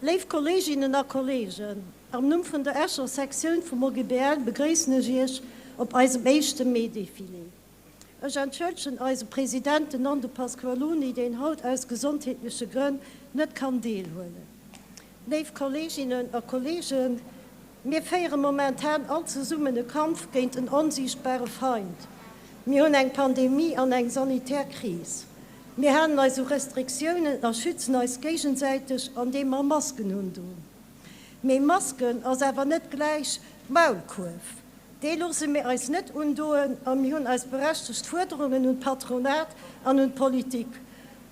Léif Kolleeginnen a Kolleegen, am Numm vun der Escher Sektioun vum OGBL begréissen ech Iech op eisem éischte Maidefilé. Ech entschëllegen eise President, den Nando Pasqualoni, deen haut aus gesondheetleche Grënn net kann deelhuelen. Léif Kolleeginnen a Kolleegen, Mir féiere momentan all zesummen e Kampf géint en onsiichtbare Feind. Mir hunn eng Pandemie an eng sanitär Kris. Mir halen eis u Restriktiounen a schützen eis géigesäiteg an deem mer Masken undun. Mee Masken ass awer net gläich Maulkuerf. Dee loosse mir eis net undoen a mir hunn eis berechtegt Fuerderungen un d'Patronat an un d'Politik.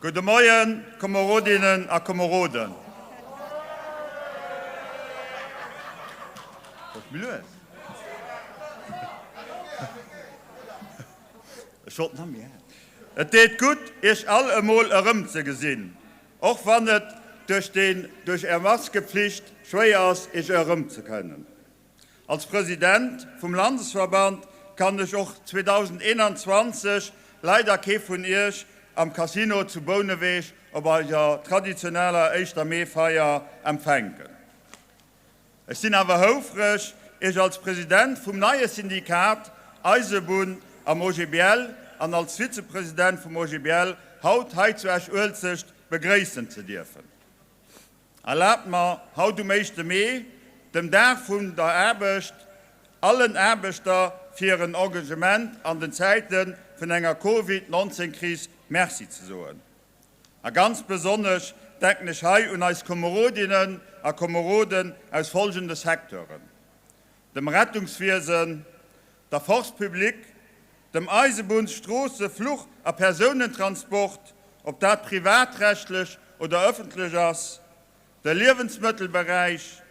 Gudde Moien, Komerodinnen a Komeroden. Et deet gutt, Iech all emol erëmzegesinn. Och wann et duerch den duerch är Maskepflicht schwéier ass iech erëm ze kënnen. Als President vum Landesverband kann ech och 2021 leider kee vun iech am Casino zu Bouneweg op eiser traditioneller Éischter Mee Feier empfänken. Ech sinn awer houfreg, Iech als President vum neie Syndikat Eisebunn am OGBL an als Vizepresident vum OGBL haut hei zu Esch-Uelzecht begréissen ze dierfen. Erlaabt mer, haut um éischte Mee, dem Dag vun der Aarbecht, allen Aarbechter fir hiren Engagement an den Zäite vun enger Covid 19 Kris Merci ze soen. A ganz besonnesch denken ech hei un eis Komerodinnen a Komeroden aus folgende Secteuren, dem Rettungswiesen, der Force publique, dem Eisebunns-, Stroosse-, Fluch a Persounentransport, ob dat privatrechtlech oder ëffentlech ass, de Liewensmëttelberäich,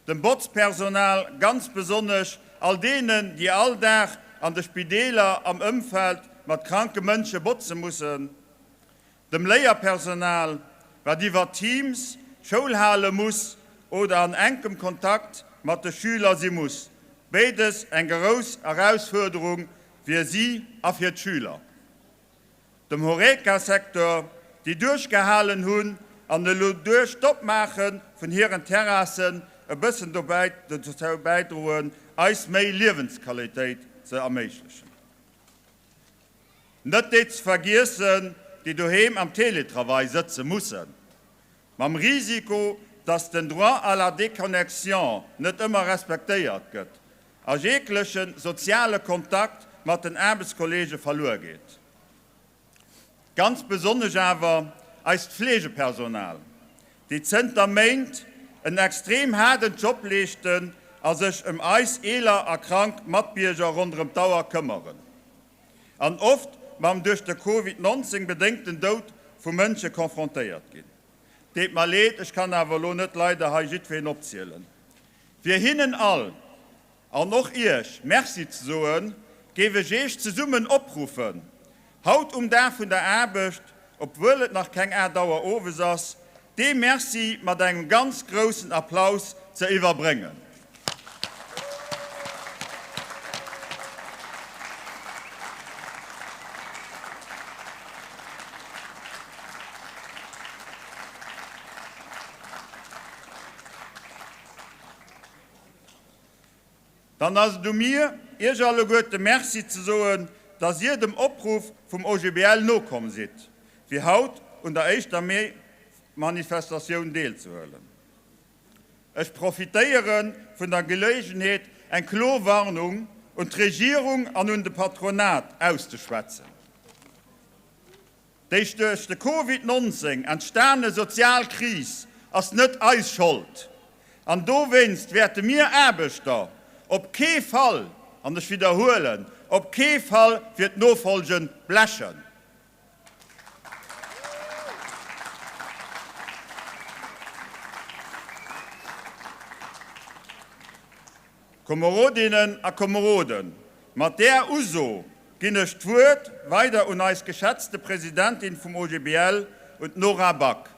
dem Botzpersonal, ganz besonnesch all deenen, déi all Dag an de Spideeler am Ëmfeld mat kranke Mënsche botze mussen, dem Léierpersonal, wat iwwer Teams Schoul hale muss oder an enkem Kontakt mat de Schüler si muss, béides eng gerous Erausfuerderung fir si a fir d'Schüler. dem Horeca-Secteur, déi duerchgehalen hunn an elo duerch d'Opmaache vun hiren Terrassen e bëssen dozou bäidroen, eis méi Liewensqualitéit ze erméiglechen. Net déi ze vergiessen, déi doheem am Teletravail sëtze mussen, mam Risiko, dass den Droit à la déconnexion net ëmmer respektéiert gëtt a jeegleche soziale Kontakt mat den Aarbechtskolleege verluer geet. Ganz besonnesch awer eist Fleegepersonal, déi zënter Méint en extrem haarden Job leeschten a sech ëm eis eeler a krank Matbierger ronderëm d'Auer këmmeren an oft mam duerch de Covid 19 bedéngten Doud vu Mënsche konfrontéiert ginn. Deet mer leed, ech kann awer elo net leider hei jiddween opzielen, Fir hinnen all an och Iech Merci ze soen, géif ech Iech zesummen opruffen, haut um Dag vun der Aarbecht, obwuel et nach keng 8 Auer owes ass, dee Merci mat engem ganz groussen Applaus ze iwwerbréngen. Dann ass et u mir, Iech alleguerte Merci ze soen, dass Dir dem Opruff vum OGBL nokomm sidd, fir haut un der éischter Mee-Manifestatioun deelzehuelen. Ech profitéiere vun der Geléigenheet, eng klo Warnung un d'Regierung an un de Patronat auszeschwätzen. Déi duerch de Covid 19 entstane sozial Kris ass net eis Schold an dowéinst wäerte mir Aarbechter op kee Fall, an ech widderhuelen, op kee Fall fir d'Nofolge blechen. Komerodinnen a Komeroden, mat där Uso ginn ech d'Wuert weider un eis geschätzte Presidentin vum OGBL, un d'Nora Back.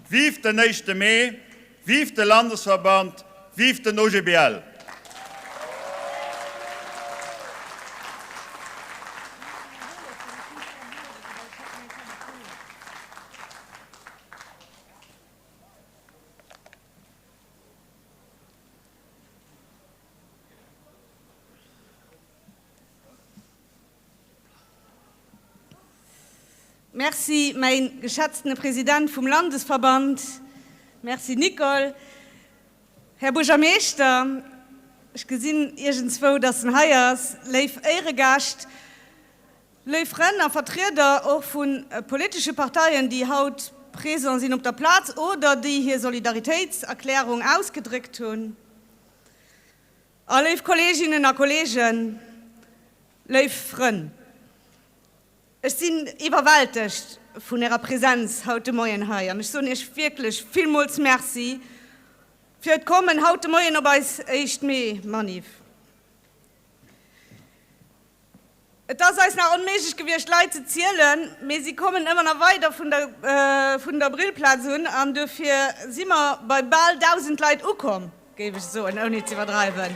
Vive den éischte Mee, vive de Landesverband, vive den OGBL! Merci, mäi geschätztene President vum Landesverband. Merci, Nicole. Här Buergermeeschter, ech gesinn iergendswou, datt en hei ass, léif Éiregäscht, Léif Frënn a Vertrieder och vu politesche Parteien, déi haut présent sinn op der Plaz oder déi hir Solidaritéitserklärung ausgedréckt hunn, a léif Kolleeginnen a Kolleegen, léif Frënn, ech sinn iwwerwältegt vun Ärer Präsenz haut de Moien hei an ech soen Iech wierklech villmools Merci fir d'Kommen haut de Moien op eis éischt Mee-Manif. Et ass eis nach onméiglech gewiescht Leit ze zielen, mee si kommen ëmmer nach weider vun der vun der Brillplaz un an dofir si mer bei bal 1.000 Leit ukomm, géif ech soen, ouni z'iwwerdreiwen.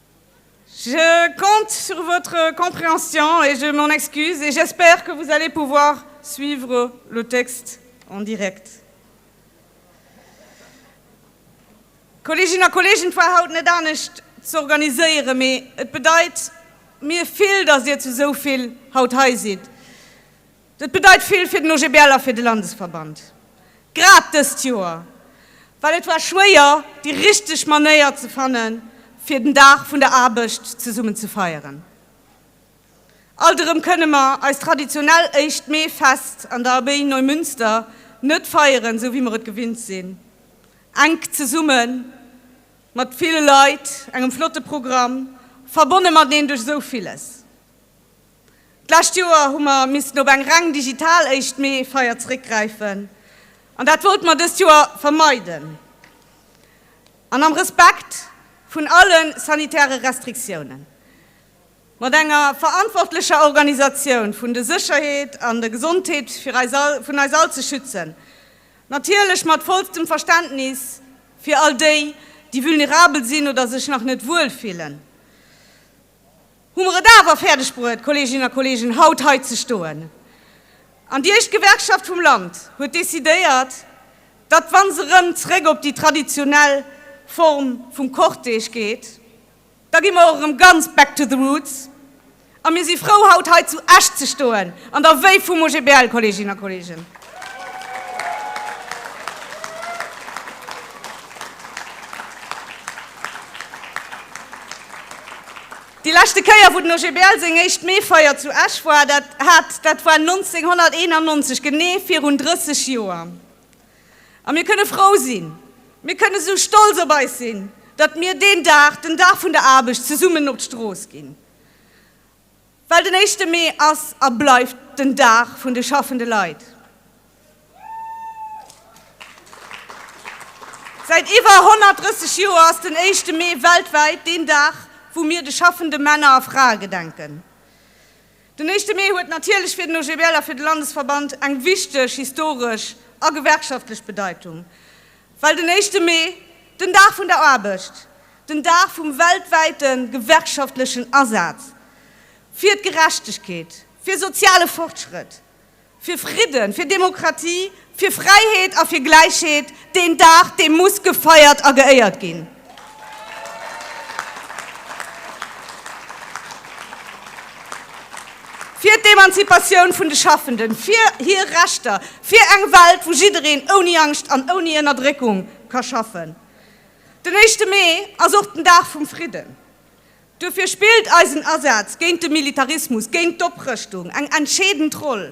Je compte sur votre compréhension et je m'en excuse et j'espère que vous allez pouvoir suivre le texte en direct. Kolleeginnen a Kolleegen, et war haut net anescht ze organiséieren, mee et bedeit mir vill, dass Dir zu esou vill haut hei sidd. Dat bedeit vill fir den OGBL a fir de Landesverband, grad dëst Joer, well et war schwéier, déi richteg Manéier ze fanne fir den Dag vun der Aarbecht zesummen ze feieren. Alt erëm kënne mer eist traditionell éischt Mee-Fest an der Abbaye Neumünster net feieren, esou wéi mer et gewinnt sinn, enk zesumme mat ville Leit, engem flotte Programm, verbonne mateneen duerch esou villes. D'lescht Joer hu mer missten op eng reng digital Éischt Mee-Feier zréckgräifen an dat wollte mer dëst Joer vermeiden an am Respekt vun alle sanitäre Restriktiounen mat enger verantwortlecher Organisatioun vun de Sécherheet an der Gesondheet vun eis all ze schützen, natierlech mat vollstem Verständnis fir all déi, déi vulnerabel sinn oder sech nach net wuel fillen. hu mer et awer fäerdegbruet, Kolleeginnen a Kolleegen, haut hei ze stoen. An déi éischt Gewerkschaft vum Land huet décidéiert, datt, wa se erëm zréck op déi traditionell Form vum Cortège geet, da gi mer och erëm ganz back to the roots. A mir si frou, haut hei zu Esch ze stoen, an der Wéif vum OGBL, Kolleeginnen a Kolleegen. Déi leschte Kéier, wou den OGBL seng éischt Meefeier zu Esch war, dat hat, dat war 1991, genee virun 30 Joer. A mir kënne frou sinn, mir kënne sou stolz op eis sinn, datt mir deen Dag, den Dag vun der Aarbecht, zesummen op d'Strooss ginn. Well den éischte Mee ass a bleift den Dag vun de schaffende Leit. Säit iwwer 130 Joer ass den éischte Mee weltwäit deen Dag, wou mir de schaffende Männer a Frae gedenken. Den éischte Mee huet natierlech fir den OGBL a fir de Landesverband eng wichteg historesch a gewerkschaftlech Bedeitung. Well den éischte Mee, den Dag vun der Aarbecht, den Dag vum weltwäite gewerkschaftlechen Asaz fir d'Gerechtegkeet, fir soziale Fortschrëtt, fir Fridden, fir Demokratie, fir Fräiheet a fir Gläichheet, deen Dag, dee muss gefeiert a geéiert ginn. Fir d'Emanzipatioun vun de Schaffenden, fir hir Rechter, fir eng Welt, wou jiddereen ouni Angscht an ouni Ënnerdréckung ka schaffen. Den éischte Mee ass och den Dag vum Fridden. Duerfir spillt eisen Asaz géint de Militarismus, géint d'Oprëschtung eng entscheedend Roll.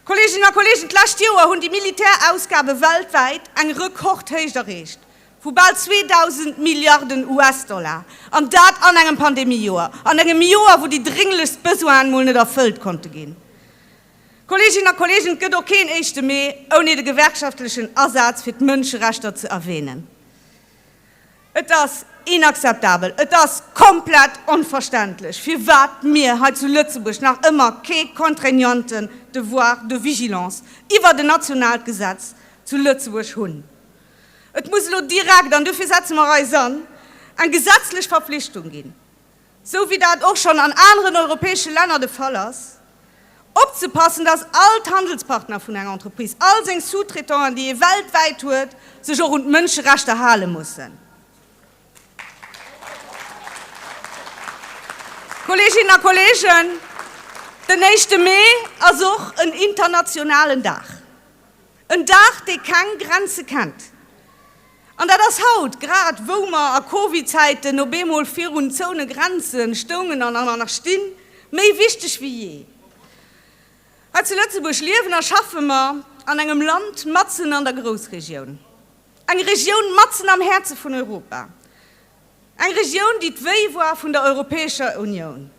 Kolleeginnen a Kolleegen, d'lescht Joer hunn déi Militärausgabe weltwäit eng Rekordhéicht erreecht vu bal 2.000 Milliarden US-Dollar, an dat an engem Pandemiejoer, an engem Joer, wou déi drénglechst Besoinen mol net erfëllt konnte ginn. Kolleeginnen a Kolleegen, et gëtt och keen Éischte Mee ouni de gewerkschaftlechen Asaz fir d'Mënscherechter ze erwänen. Et ass inakzeptabel, et ass komplett onverständlech, firwat mir hei zu Lëtzebuerg nach ëmmer kee contraignanten Devoir de vigilance iwwert en nationaalt Gesetz zu Lëtzebuerg hunn. Et muss elo direkt, an dofir setze mer eis an, eng gesetzlech Verpflichtung ginn. sou wéi dat och schonn an aneren europäesche Länner de Fall ass, opzepassen, dass all d'Handelspartner vun enger Entreprise, all seng Sous-traitanten, déi ee weltwäit huet, sech och un d'Mënscherechter hale mussen. Kolleeginnen a Kolleegen, den éischte Mee ass och en internationalen Dag, en Dag, dee keng Grenze kennt. An dat ass haut, grad wou mer a Covid-Zäiten op eemol virun zoune Grenzen stoungen an an nach stinn, méi wichteg wéi jee. Hei zu Lëtzebuerg liewen a schaffe mer an engem Land matzen an der Groussregioun. Eng Regioun matzen am Häerze vun Europa. Eng Regioun, déi d'Wéi war vun der Europäescher Unioun.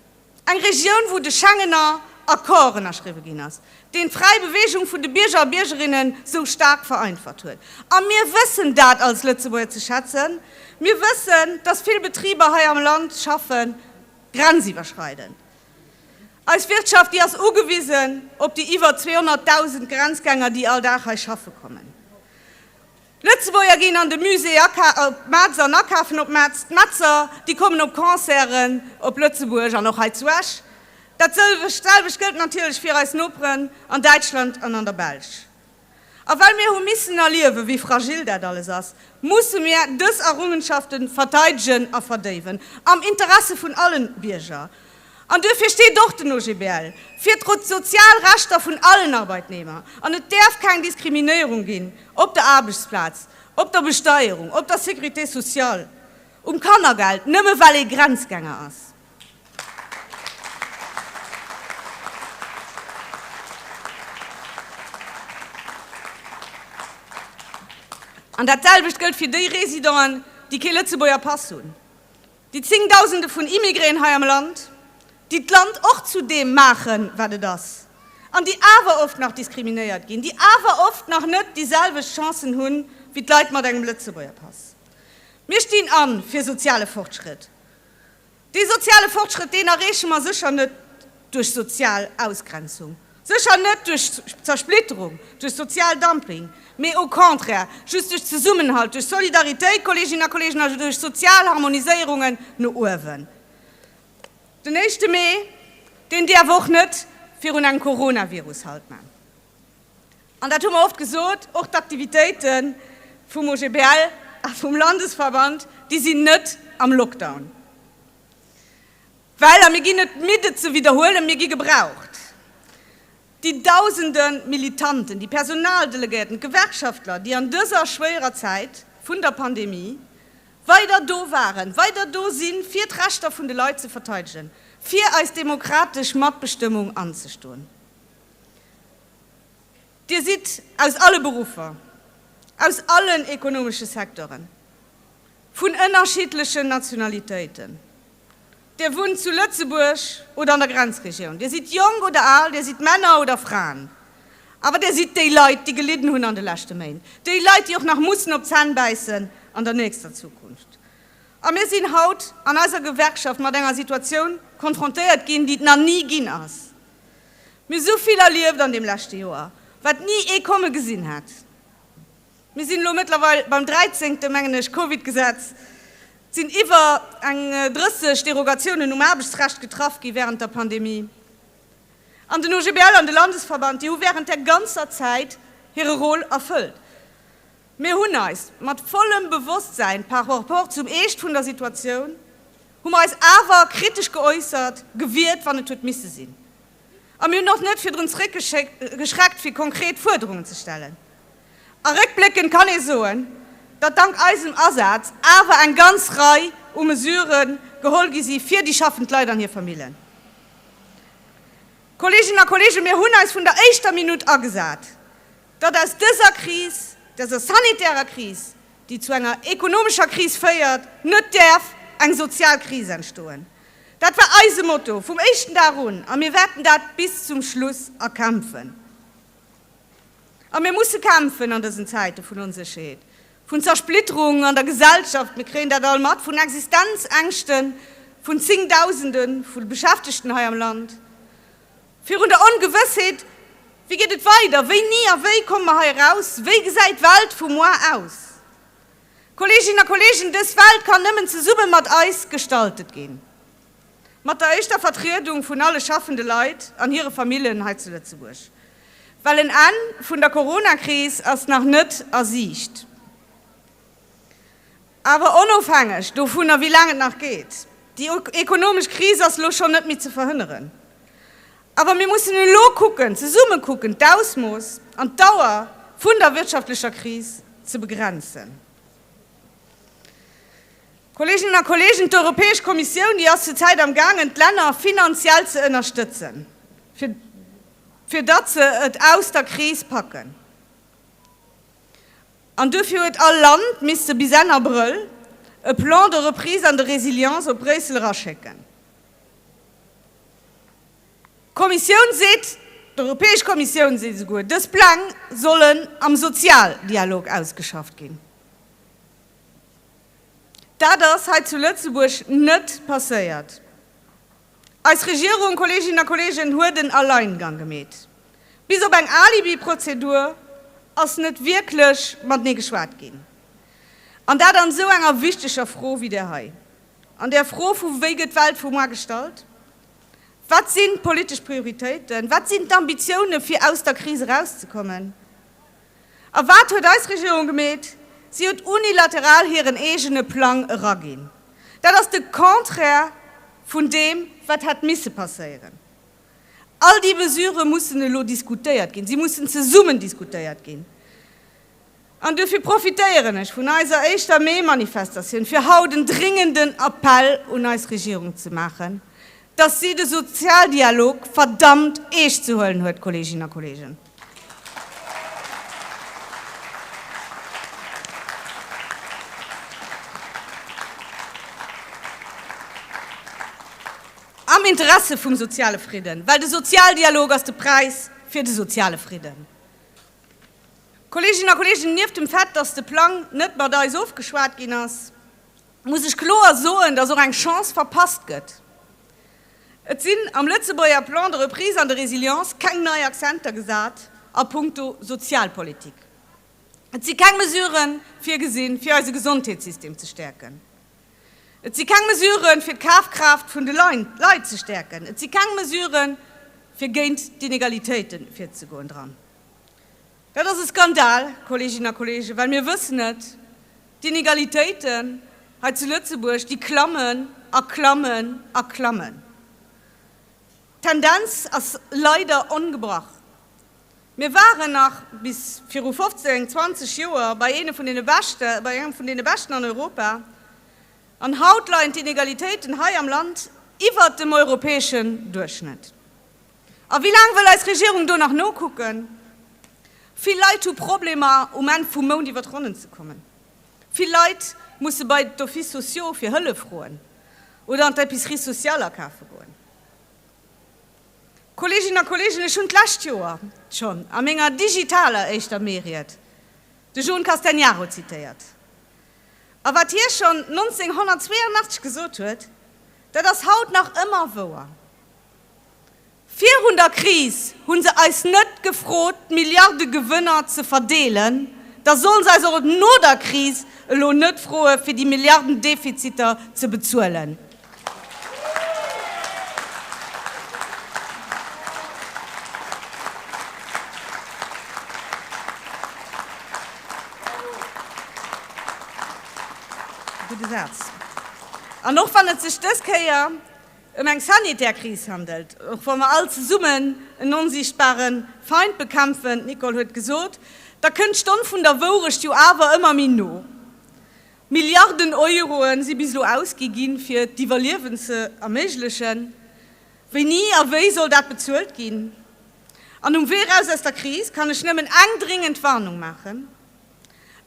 Eng Regioun, wou de Schengener Accord ënnerschriwwe ginn ass, deen d'fräi Beweegung vun de Bierger a Biergerinnen esou staark vereinfacht huet. A mir wëssen dat als Lëtzebuerger ze schätzen. Mir wëssen, dass vill Betriber hei am Land schaffen, grenziwwerschreidend. Eis Wirtschaft, déi ass ugewisen op déi iwwer 200.000 Grenzgänger, déi all Dag hei schaffe kommen. D'Lëtzebuerger ginn an de Musée aka op d'Metz an akafen op d'Metz. D'Metzer, déi kommen op Concerten op Lëtzebuerg an och hei zu Esch. Dat sëlwecht, selwecht gëllt natierlech fir eis Noperen an Däitschland an an der Belsch. A well mir hu missen erliewen, wéi fragil dat alles ass, musse mir dës Errungenschaften verteidegen a verdéiwen, am Interesse vun allen Bierger. An duerfir steet och den OGBL fir d'sozial Rechter vun allen Arbeitnehmer. An et däerf keng Diskriminéierung ginn op der Aarbechtsplaz, op der Besteierung, op der Sécurité sociale, um Kannergeld, nëmme well ee Grenzgänger ass. An datselwecht gëllt fir déi Residenten, déi kee Lëtzebuerger Pass hunn. Déi zéngdausende vun Immigrén hei am Land, déi d'Land och zu deem maachen, wat et ass, an déi awer oft nach diskriminéiert ginn, déi awer oft nach net déi selwecht Chancen hu wéi d'Leit mat engem Lëtzebuerger Pass. Mir stinn a fir soziale Fortschritt. Dee soziale Fortschritt, deen erreeche mer sécher net duerch sozial Ausgrenzung. Sécher net duerch Zersplitterung, duerch sozial Dumping, mee au contraire just duerch Zesummenhalt, duerch Solidaritéit, Kolleeginnen a Kolleegen, also duerch sozial Harmoniséierungen no uewen. Den éischte Mee, deen däerf och net virun engem Coronavirus Halt man. An dat hu mer oft gesot, och d'Aktivitéite vum OGBL a vum Landesverband, déi sinn net am Lockdown. Well, a mir ginn net midd et ze widderhuelen, mir gi gebraucht. Déi dausende Militanten, déi Personaldelegéierten, d'Gewerkschaftler, déi an dëser schwéierer Zäit vun der Pandemie weider do waren, weider do si fir d'Rechter vun de Leit ze verteidegen, fir eis demokratesch Matbestëmmung anzestoen. Dir sidd aus alle Beruffer, aus allen ekonomesche Secteuren, vun ënnerschiddlechen Nationalitéiten. Dir wunnt zu Lëtzebuerg oder an der Grenzregioun, Dir sidd jonk oder al, Dir sidd Männer oder Fraen, awer Dir sidd déi Leit, déi gelidden hunn an de leschte Méint, déi Leit, déi och nach mussen op d'Zänn bäissen an der nächster Zukunft. A mir sinn haut an eiser Gewerkschaft mat enger Situatioun konfrontéiert ginn, déi et nach ni ginn ass. Mir hu esou vill erlieft an deem leschte Joer, wat ni ee komme gesinn hätt. Mir sinn elo mëttlerweil beim dräizéngte, mengen ech, Covid-Gesetz. Et sinn iwwer eng 30 Derogatiounen um Aarbechtsrecht getraff gi wärend der Pandemie. An den OGBL an de Landesverband, déi hu wärend där ganzer Zäit hire Rôle erfëllt. Mir hunn eis, mat vollem Bewosstsäin par rapport zum Eescht vun der Situatioun, hu mer eis awer kritesch geäussert, gewiert, wann et huet misse sinn. A mir hunn och net virdrun zréckgeschreckt, fir konkret Fuerderungen ze stellen. A réckbléckend kann ee soen, datt dank eisem Asaz awer eng ganz Rei u Mesurë geholl gi si fir déi schaffend Leit an hir Famillen. Kolleeginnen a Kolleegen, mir hunn eis vun der éischter Minutt agesat, datt aus dëser Kris, dëser sanitärer Kris, déi zu enger ekonomescher Kris féiert, net däerf eng sozial Kris entstoen. Dat war eise Motto vum éischten Dag un a mir wäerten dat bis zum Schluss erkämpfen. A mir musse kämpfen an dësen Zäite vun Onsécherheet, vun Zersplitterung an der Gesellschaft, mir kréien dat all mat, vun Existenzängschte vun Zéngdausende vu Beschäftegten hei am Land, virun der Ongewëssheet, Wéi geet et weider? Wéini a wéi komme mer hei eraus? Wéi gesäit d'Welt vu moar aus? Kolleeginnen a Kolleegen, dës Welt kann nëmmen zesumme mat eis gestaltet ginn, mat der éischter Vertriedung vun alle schaffende Leit an hire Famillen hei zu Lëtzebuerg, well en Enn vun der Coronakris ass nach net a Siicht. Awer onofhängeg dovunner, wéi laang et nach geet, déi ekonomesch Kris ass elo schonn net méi ze verhënneren. Awer mir mussen elo kucken, zesumme kucken, d'Ausmooss an d'Dauer vun der wirtschaftlecher Kris ze begrenzen. Kolleeginnen a Kolleegen, d'Europäesch Kommissioun, déi ass zur Zäit am gaangen, d'Länner finanziell ze ënnerstëtzen, fir, fir datt se et aus der Kris packen. An duerfir huet all Land misste bis Enn Abrëll e Plan de reprise an de résilience op Bréissel eraschécken. D'Kommissioun seet, d'Europäesch Kommissioun seet esouguer, dës Pläng sollen am Sozialdialog ausgeschafft ginn. Dat ass hei zu Lëtzebuerg net passéiert. Eis Regierung, Kolleeginnen a Kolleegen, huet en Alleingang gemeet. Bis op eng Alibiprozedur ass net wierklech matenee geschwat ginn, an dat an esou enger wichteger Fro wéi där hei. An der Fro vu wéi gëtt d'Welt vu muar gestallt, wat sinn d'politesch Prioritéiten, wat sinn d'Ambitioune fir aus der Kris erauszekommen a wat huet eis Regierung gemeet? Si huet unilateral hiren eegene Plang eraginn. Dat ass de Contraire vun deem wat hätt misse passéieren. All déi Mesure mussen elo diskutéiert ginn, si mussen zesummen diskutéiert ginn. An duerfir profitéieren ech vun eiser éischter Mai-Manifestatioun, fir haut en dringenden Appell un eis Regierung ze maachen, dass si de Sozialdialog verdammt eescht ze huelen huet, Kolleeginnen a Kolleegen. Am Interesse vum soziale Fridden, well de Sozialdialog ass de Präis fir de soziale Fridden. Kolleeginnen a Kolleegen, nieft dem Fait, dass de Plang net mat eis ofgeschwat ginn ass, muss ech kloer soen, dass och eng Chance verpasst gëtt. Et sinn am Lëtzebuerger Plan de reprise an de résilience keng nei Accenter gesat a puncto Sozialpolitik. Et si keng Mesuren virgesinn, fir eise Gesondheetssystem ze stäerken. Et si keng Mesuren, fir d'Kafkraaft vun de Leit ze stäerken. Et si keng Mesuren, fir géint d'Inegalitéite virzegoen dran. Dat ass e Skandal, Kolleeginnen a Kolleegen, well mir wëssen et, D'Inegalitéiten hei zu Lëtzebuerg, déi klammen a klammen a klammen. D'Tendenz ass leider ongebrach. Mir waren nach bis viru 15, 20 Joer bei eene vun deene Beschte, bei engem vun deene Beschten an Europa, an haut leien d'Inegalitéiten hei am Land iwwert dem europäeschen Duerchschnëtt. A wéi laang wëll eis Regierung do nach nokucken? Vill Leit hu Problemer, um Enn vum Mount iwwer d'Ronnen ze kommen. Vill Leit musse bei d'Offices sociaux fir Hëllef froen oder an d'Epicerie sociale akafe goen. Kolleeginnen a Kolleegen, ech hunn d'lescht Joer schonn a menger digitaler éischter Meeried de John Castegnaro zitéiert. A wat hie schonn 1982 gesot huet, dat ass haut nach ëmmer wouer. Virun der Kris hu se eis net gefrot, d'Milliardegewënner ze verdeelen, da solle se eis och no der Kris elo net froe fir déi Milliarden Defiziter ze bezuelen. An och wann et sech dës Kéier ëm eng sanitär Kris handelt, och wa mer all zesummen en onsichtbare Feind bekämpfen, d'Nicole huet gesot, da kënnt d'Stonn vun der Wourecht jo awer ëmmer méi no. Milliarden Euroe si bis elo ausgi ginn, fir d'Iwwerliewen ze erméiglechen. Wéini a wéi soll dat bezuelt ginn? An um Wee eraus aus der Kris kann ech nëmmen eng dringend Warnung maachen,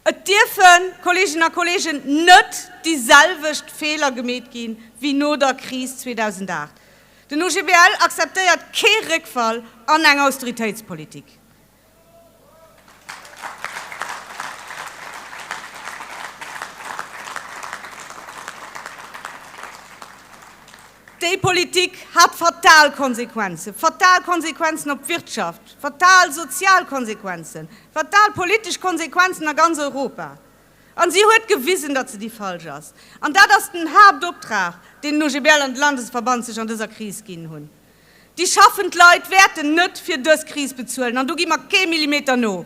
Et dierfen, Kolleginnen a Kollegen, net déi selwecht Feeler gemeet gi wéi no der Kris 2008. Den OGBL akzeptéiert kee Réckfall an eng Austeritéitspolitik. Déi Politik hat fatal Konsequenzen, fatal Konsequenzen op d'Wirtschaft, fatal sozial Konsequenzen, fatal politesch Konsequenzen a ganz Europa. An si huet gewisen, datt se déi falsch ass. An dat ass den Haaptoptrag, deen den OGBL an de Landesverband sech an dëser Kris ginn hunn. Déi schaffend Leit wäerten net fir dës Kris bezuelen an do gi mer kee Millimeter no.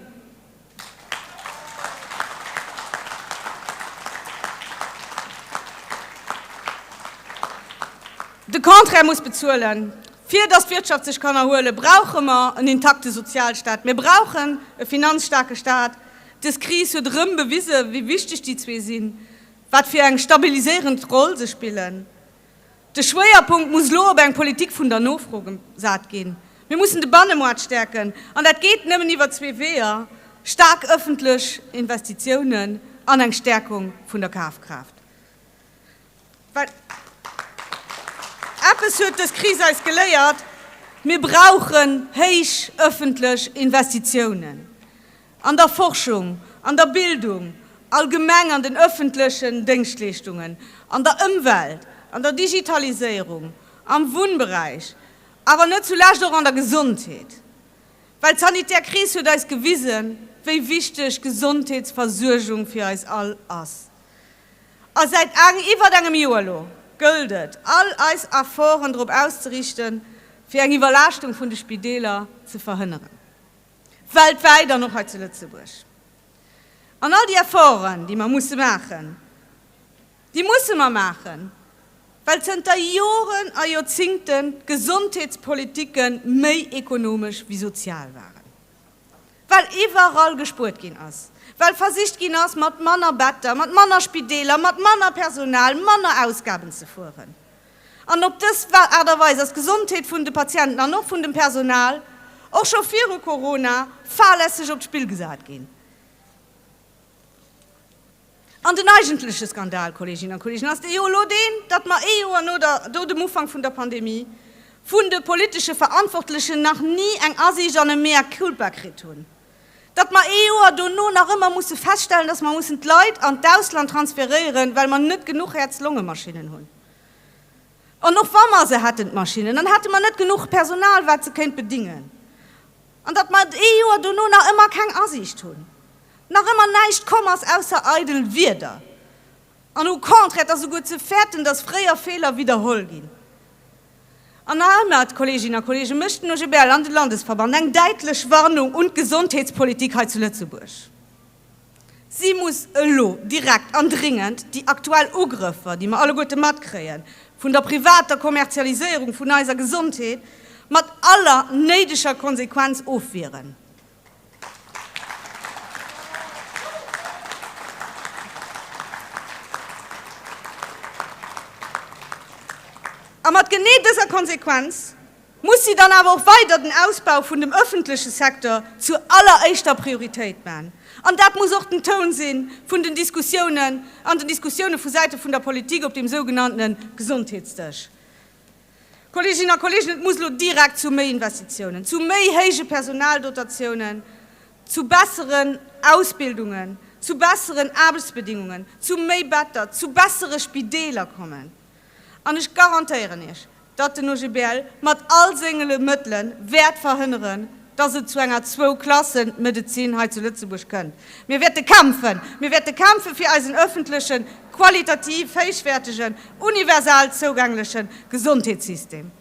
De Contraire muss bezuelen. Fir datt d'Wirtschaft sech kann erhuelen, brauche mer en intakte Sozialstaat. Mir brauchen e finanzstaarke Staat. Dës Kris huet erëm bewisen, wéi wichteg déi zwee sinn, wat fir eng stabiliséierend Roll se spillen. De Schwéierpunkt muss elo op eng Politik vun der Nofro gesat ginn. Mir mussen de Bannemaart stäerken, an dat geet nëmmen iwwer zwee Weeër, staark ëffentlech Investitiounen an eng Stäerkung vun der Kafkraaft. Well eppes huet dës Kris eis geléiert, Mir brauchen héich ëffentlech Investitiounen. An der Forschung, an der Bildung allgemeng, an den ëffentlechen Déngschtleeschtungen, an der Ëmwelt, an der Digitaliséierung, am Wunnberäich, awer net zulescht och an der Gesondheet. Well d'sanitär Kris huet eis gewisen, wéi wichteg Gesondheetsversuergung fir eis all ass. A säit aang iwwert engem Joer elo gëllt et, all eis Efforten drop auszerichten, fir eng Iwwerlaaschtung vun de Spideeler ze verhënneren. weltwäit an och hei zu Lëtzebuerg. An all déi Efforten, déi mer musse maachen, déi musse mer maachen, well zënter Joren a Joerzingte d'Gesondheetspolitike méi ekonomesch wéi sozial waren, well iwwerall gespuert ginn ass, well versicht ginn ass, mat manner Better, mat manner Spideeler, mat manner Personal, manner Ausgaben ze fueren. An op dës Aart a Weis ass d'Gesondheet vun de Patienten an och vun dem Personal, och scho viru Corona, fahrlässeg op d'Spill gesat ginn. An den eigentleche Skandal, Kolleeginnen a Kolleegen, ass dee jo elo deen, datt mer ee Joer no der do dem Ufank vun der Pandemie vun de politesche Verantwortlechen nach ni eng Asiicht an e Mea culpa kritt hunn. Datt mer ee Joer dono nach ëmmer musse feststellen, datt mer mussen d'Leit an d'Ausland transferéieren, well mer net genuch Häerz-Longe-Maschinnen hunn. An och wa mer se hätten, d'Maschinnen, dann hätte mer net genuch Personal, wat se kéint bedingen. An datt mer et ee Joer dono nach ëmmer keng Asiicht hunn, nach ëmmer näischt komm ass ausser eidel Wierder an au contraire, et ass esouguer ze fäerten, datt fréier Feeler widderholl ginn. An nach ëmmer, d'Kolleeginnen a Kolleegen, mécht den OGBL an de Landesverband eng däitlech Warnung un d'Gesondheetspolitik hei zu Lëtzebuerg, Si muss elo direkt an dringend déi aktuell Ugrëffer, déi mer alleguerte matkréien, vun der privater Kommerzialiséierung vun eiser Gesondheet mat aller néideger Konsequenz ofwieren. A mat genee dëser Konsequenz muss si dann awer och weider den Ausbau vun dem öffentleche Secteur zur alleréischter Prioritéit man. An dat muss och den Toun si vun den Diskussiounen, an den Diskussiounen vu Säite vun der Politik op deem sougenannte Gesondheetsdësch. Kolleeginnen a Kolleegen, et muss elo direkt zu méi Investitiounen, zu méi héije Personaldotatiounen, zu besseren Ausbildungen, zu besseren Aarbechtsbedingungen, zu méi Better, zu bessere Spideeler kommen. An ech garantéieren Iech, datt den OGBL mat all sengele Mëttele wäert verhënneren, dass et zu enger Zwou-Klassen-Medezin hei zu Lëtzebuerg kënnt. Mir wäerte kämpfen, mir wäerte kämpfe fir eisen öffentlechen, qualitativ héichwäertegen, universal zougängleche Gesondheetssystem.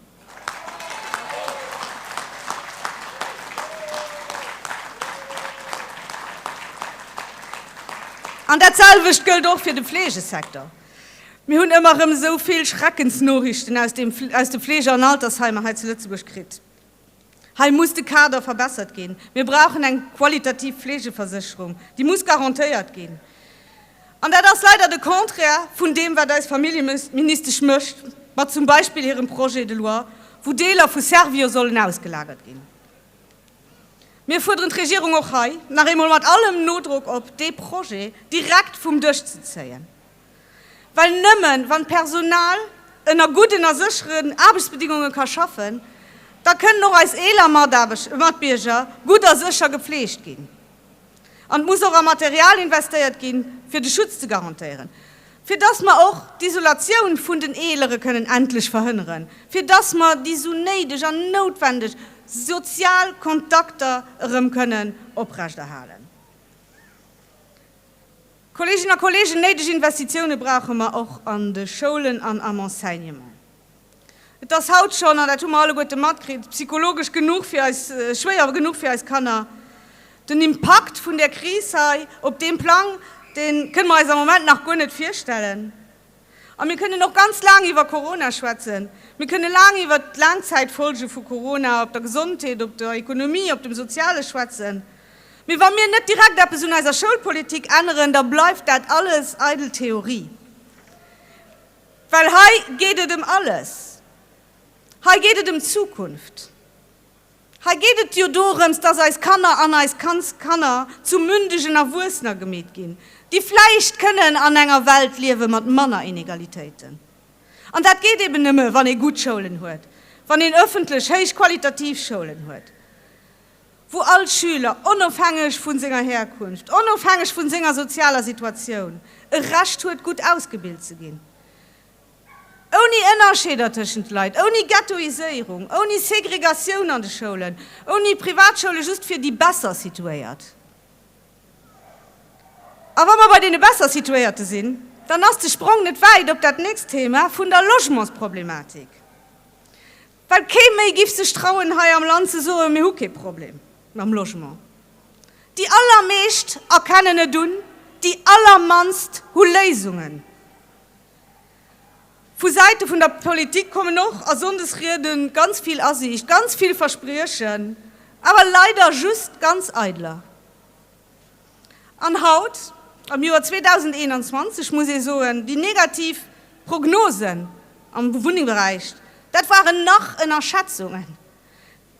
An dat selwecht gëllt och fir de Fleegesecteur. Mir hunn ëmmer erëm esou vill Schreckensnoriichten aus de Fleege an Altersheimer hei zu Lëtzebuerg kritt. Hei muss de Kader verbessert ginn. Mir brauchen eng qualitativ Fleegeversécherung, déi muss garantéiert ginn. An dat ass leider de Contraire vun deem, wat eis Familljeministesch mécht mat zum Beispill hirem Projet de loi, wou Deeler vu Servior sollen ausgelagert ginn. Mir fuerderen d'Regierung och hei nach eemol mat allem Nodrock op, dee Projet direkt vum Dësch ze zéien. Well nëmmen wann d'Personal ënner gudden a sécheren Aarbechtsbedéngunge ka schaffen, da kënnen och eis eeler Matbierger gutt a sécher gepfleegt ginn. An et muss och a Material investéiert ginn, fir de Schutz ze garantéieren, fir dass mer och d'Isolatioun vun den Eelere kënnen endlech verhënneren, fir dass mer déi esou néideg an noutwendeg sozial Kontakter erëm kënnen oprechterhalen. Kolleeginnen a Kolleegen, néideg Investitiounen brauche mer och an de Schoulen an am Enseignement. Et ass haut schonn, an dat hu mer alleguerte matkritt, psychologesch genuch fir eis, schwéier genuch fir eis Kanner. Den Impakt vun där Kris hei op deem Plang, dee kënne mer eis am Moment nach guer net virstellen. A mir kënnen och ganz laang iwwer Corona schwätzen. Mir kënne laang iwwer d'Laangzäitfolge vu Corona op der Gesondheet, op der Ekonomie, op dem Soziale schwätzen. Mee wa mir net direkt eppes un eiser Schoulpolitik änneren, da bleift dat alles eidel Theorie. Well hei geet et ëm alles. Hei geet et ëm d'Zukunft. Hei geet et jo dorëms, dass eis Kanner an eis Kandskanner zu mündegen Erwuessener gemeet ginn, déi vläicht kënnen an enger Welt liewe mat manner Inegalitéiten. An dat geet eben nëmme, wann ee gutt Schoulen huet, wann een ëffentlech héichqualitativ Schoulen huet, wou all Schüler, onofhängeg vu senger Herkunft, onofhängeg vu senger sozialer Situatioun, e Recht huet, gutt ausgebilt ze ginn. Ouni Ënnerscheeder tëschent Leit, ouni Ghettoiséierung, ouni Segregatioun an de Schoulen, ouni Privatschoule just fir déi besser Situéiert. A wa mer bei deene besser Situéierte sinn, dann ass de Sprong net wäit op dat nächst Thema vun der Logementsproblematik. Well kee méi giff sech trauen hei am Land ze soen, mir hu kee Problem mam Logement. Déi allermeescht erkennen et un, déi allermannst hu Léisungen. Vu Säite vun der Politik kommen och a Sonndesrieden ganz vill Asiicht, ganz vill Verspriechen, awer leider just ganz eideler. An haut, am Joer 2021, muss ee soen, déi negativ Prognosen am Wunningberäich, dat waren nach Ënnerschätzungen.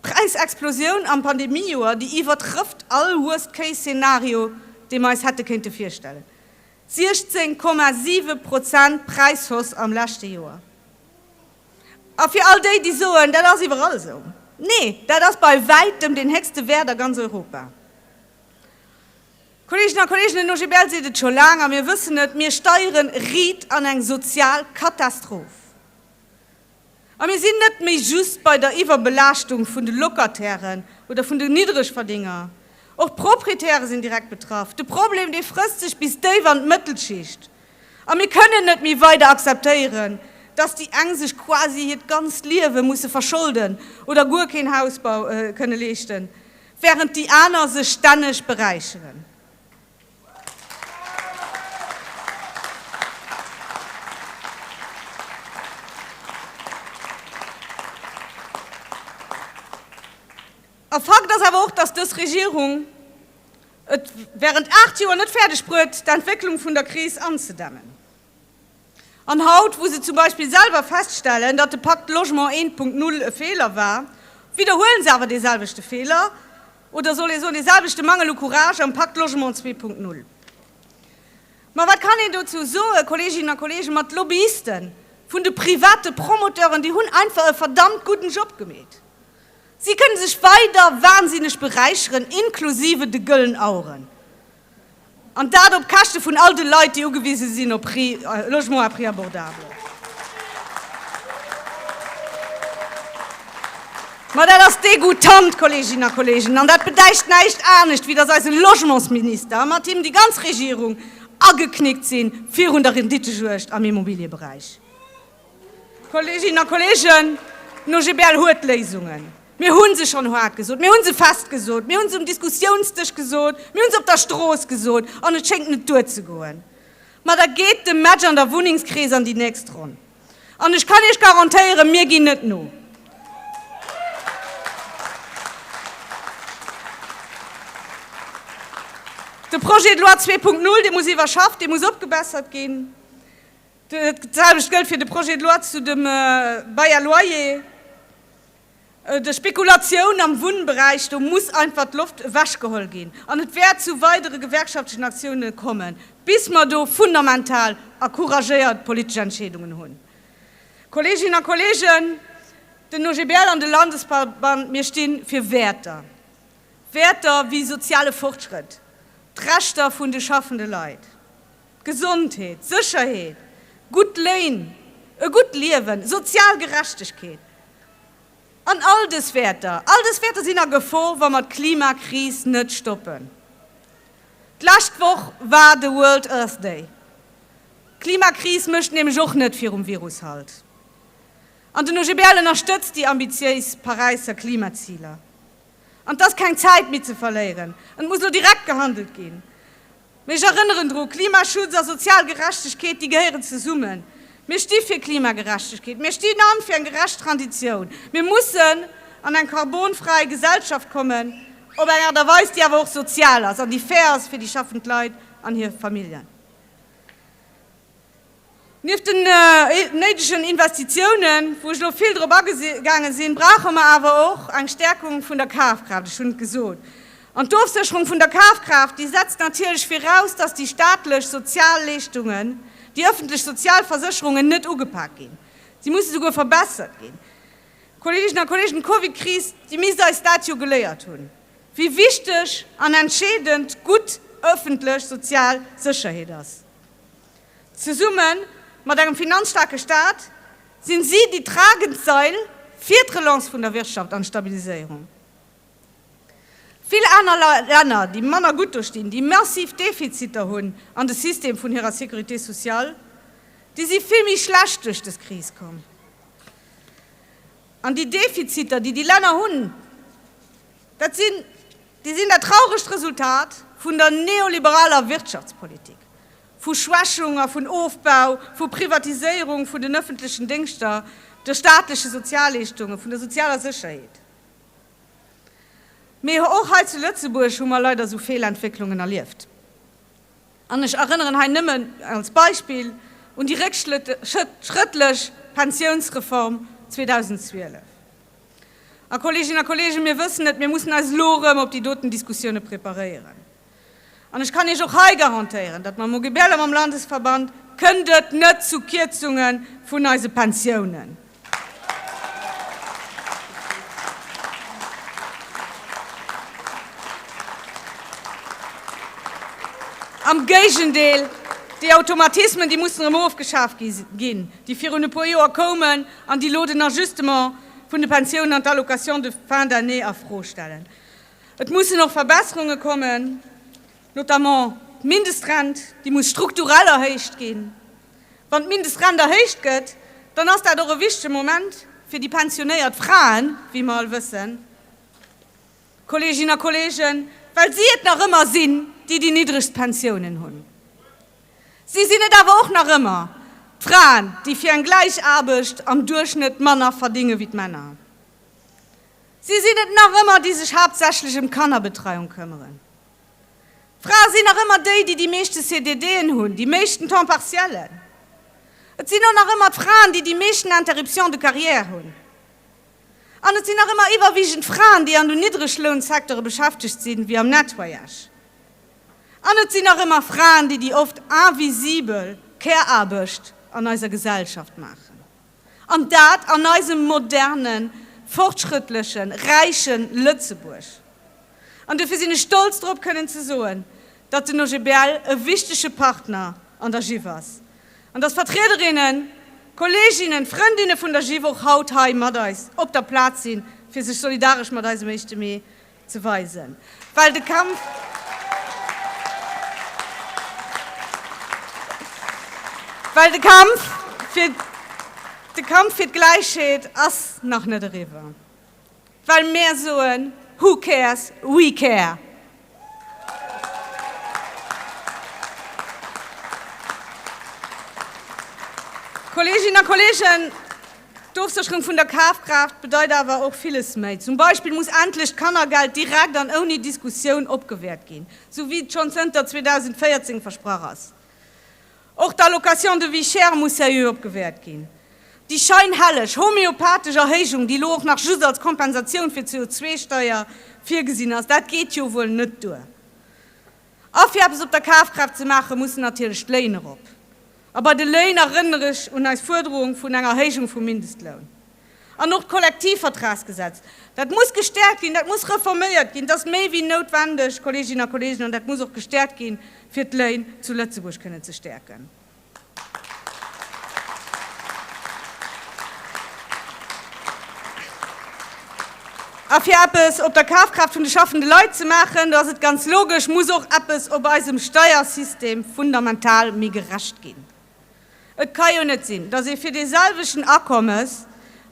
D'Präisexplosioun am Pandemiejoer, déi iwwertrëfft all Worst-Case-Szenario, dee mer eis hätte kéinte virstellen. 16,7 Prozent Präishausse am leschte Joer. A fir all déi, déi soen, dat ass iwwerall esou, Nee, dat ass bei wäitem deen héchste Wäert a ganz Europa. Kolleegen a Kolleegen, den OGBL seet et scho laang a mir wëssen et, Mir steiere riit an eng sozial Katastroph. A mir sinn net méi just bei der Iwwerbelaaschtung vun de Locatairen oder vun de Niddregverdénger. Och d'Proprietäre sinn direkt betraff. De Problem, dee frësst sech bis déif an d'Mëttelschicht. A mir kënnen net méi weider akzeptéieren, dass déi eng sech quasi hiert ganzt Liewe musse verscholden oder guer keen Hausbau kënne leeschten, wärend déi aner sech stänneg beräicheren. E Fakt ass awer och, dass dës Regierung et während aacht Joer net fäerdeg bruet, d'Entwécklung vun der Kris anzedämmen. An haut, wou se zum Beispill selwer feststellen, datt de Pakt Logement 1.0 e Feeler war, widderhuelen se awer deeselwechte Feeler, Oder soll ee soen, dee selwechte Mangel u Courage am Pakt Logement 2.0? Ma wat kann een dozou soen, Kolleeginnen a Kolleegen, ma d'Lobbyiste vun de private Promoteuren, déi hunn einfach e verdammt gudden Job gemeet. Si kënne sech weider wahnsinneg beräicheren, inklusive de Gëllen Aueren. An dat op Käschte vun all de Leit, déi ugewise sinn op Logement à prix abordable. Ma dat ass degoutant, Kolleeginnen a Kolleegen. An dat bedeicht näischt anescht, wéi datt eise Logementsminister a mat him déi ganz Regierung ageknickt si virun der Renditejuegd am Immobilieberäich. Kolleeginnen a Kolleegen, den OGBL huet Léisungen. Mir hu se schonn haart gesot, mir hu se fest gesot, mir hu se um Diskussiounsdësch gesot, mir hu se op der Strooss gesot, an et schéngt net duerzegoen. Ma da geet de Match an der Wunnengskris an déi nächst Ronn. An ech kann Iech garantéieren, mir ginn net no. De Projet de loi 2.0, dee muss iwwerschafft, dee muss opgebessert ginn. D'selwecht gëllt fir de Projet de loi zu de Bail à loyer, der Spekulatioun am Wunnberäich. Do muss einfach d'Loft ewechgeholl ginn an et wäert zu weidere gewerkschaftlechen Aktiounen kommen, bis mer do fundamental a couragéiert politesch Entscheedungen hunn. Kolleeginnen a Kolleegen, den OGBL an de Landesverband, mir sti fir Wäerter, Wäerter wéi soziale Fortschrëtt, d'Rechter vun de schaffende Leit. Gesondheet, Sécherheet, gutt Léin, e gutt Liewen, sozial Gerechtegkeet an all dës Wäerter, all dës Wäerter sinn a Gefor, wa mer d'Klimakris net stoppen. D'lescht Woch war de World Earth Day. D'Klimakris mécht nämlech och net virum Virus Halt. An den OGBL ënnerstëtzt déi ambitiéis Paräisser Klimaziler. An et ass keng Zäit méi ze verléieren, et muss elo direkt gehandelt ginn. Mee ech erënneren dru, Klimaschutz a sozial Gerechtegkeet, déi gehéieren zesummen. Mir sti fir Klimagerechtegkeet, mir stinn an fir eng gerecht Transitioun. Mir mussen an eng karbonfräi Gesellschaft kommen, op eng Aart a Weis, déi awer och sozial ass an déi fair ass fir déi schaffend Leit an hir Familljen. Nieft den néidegen Investitiounen, wou ech elo vill drop agegaangen sinn, brauche mer awer och eng Stärkung vun der Kafkraaft. Ech hunn et gesot. An d'Ofsécherung vun der Kafkraaft, déi setzt natierlech viraus, dass déi staatlech Sozialleeschtungen, déi öffentlech Sozialversécherungen net ugepak ginn. Si musse souguer verbessert ginn. Kolleeginnen a Kolleegen, d'Covidkris, déi misst eis dat jo geléiert hunn, wéi wichteg an entscheedend gutt öffentlech sozial Sécherheet ass. Zesumme mat engem finanzstaarke Staat sinn si déi tragend Sail fir d'Relance vun der Wirtschaft an d'Stabiliséierung. Vill aner Länner, déi manner gutt do stinn, déi massiv Defiziter hunn an de System vun hirer Sécurité sociale, déi si vill méi schlecht duerch des Kris komm. An déi Defiziter, déi déi Länner hunn, dat sinn. Déi sinn dat trauregt Resultat vun der neoliberaler Wirtschaftspolitik, vu Schwächung a vun Ofbau, vu Privatiséierung vun den ëffentlechen Déngschter, de staatleche Sozialleeschtungen, vun der sozialer Sécherheet. Mee och hei zu Lëtzebuerg hu mer leider esou Feelentwécklungen erlieft. An ech erënneren hei nëmmen als Beispill un déi réckschrëttlech Pensiounsreform 2012. A Kolleeginnen a Kolleegen, mir wëssen et, mir mussen eis elo erëm op déi doten Diskussioune preparéieren. An ech kann Iech och hei garantéieren, datt mam OGBL a mam Landesverband kënnt et net zu Kierzunge vun eise Pensiounen. Am Géigendeel, déi Automatismen, déi mussen erëm ofgeschaaft ginn. déi virun e puer Joer koumen an déi elo den Ajustement vun de Pensiounen an d'Allocation de fin d'année a Fro stellen. Et mussen och Verbesserunge kommen, notamment d'Mindestrent, déi muss strukturell erhéicht ginn. Wann d'Mindestrent erhéicht gëtt, dann ass dat och e wichtege Moment fir déi pensionéiert Fraen, wéi mer all wëssen, Kolleeginnen a Kolleegen, well si et nach ëmmer sinn, déi déi niddregst Pensiounen hunn. Si sinn et awer och nach ëmmer, d'Fraen, déi fir eng gläich Aarbecht am Duerchschnëtt manner verdinge wéi d'Männer. Si sinn et nach ëmmer, déi sech haaptsächlech ëm d'Kannerbetreiung këmmeren. Frae sinn nach ëmmer déi, déi déi meeschte CDDen hunn, déi meeschten Temps partiellen. Et sinn och nach ëmmer d'Fraen, déi déi meeschten Interruptions de carrière hunn. An et sinn nach ëmmer iwwerwiegend Fraen, déi an den Niddreglounsektere beschäftegt sinn, wéi am Nettoyage. An et sinn nach ëmmer Fraen, déi déi oft invisibel Care-Aarbecht an eiser Gesellschaft maachen. An dat an eisem modernen, fortschrëttlechen, räichen Lëtzebuerg. An dofir sinn ech stolz drop kënnen ze soen, datt den OGBL e wichtege Partner an der GIF ass an datt Vertriederinnen, Kolleeginnen, Frëndinne vun der GIF och haut hei mat eis op der Plaz sinn, fir sech solidaresch mat eisem Éischte Mee ze weisen, well de Kampf well de Kampf fir de Kampf fir d'Gläichheet ass nach net eriwwer, well mär soen, Who cares? We care! Kolleeginnen a Kolleegen, D'Ofsécherung vun der Kafkraaft bedeit awer och villes méi. Zum Beispill muss endlech d'Kannergeld direkt an ouni Diskussioun opgewäert ginn, sou wéi et schonn zënter 2014 versprach ass. Och d'Allocation de vie chère muss seriö opgewäert ginn. Déi scheinhelleg homeopathesch Erhéijung, déi elo och nach just als Kompensatioun fir d'CO2-Steier virgesinn ass, dat geet jo wuel net duer. A fir eppes op der Kafkraaft ze maachen, mussen natierlech d'Léin erop. A bei de Léin erënnere ech un eis Fuerderung vun enger Erhéijung vum Mindestloun. An och d'Kollektivvertragsgesetz, dat muss gestäerkt ginn, dat muss reforméiert ginn, dat ass méi wéi noutwendeg, Kolleeginnen a Kolleegen, an dat muss och gestäerkt ginn, fir d'Léin zu Lëtzebuerg kënnen ze stäerken. A fir eppes op der Kafkraaft vun de schaffende Leit ze maachen, do ass et ganz logesch, muss och eppes op eisem Steiersystem fundamental méi gerecht ginn. Et ka jo net sinn, datt ee fir dee selwechten Akommes,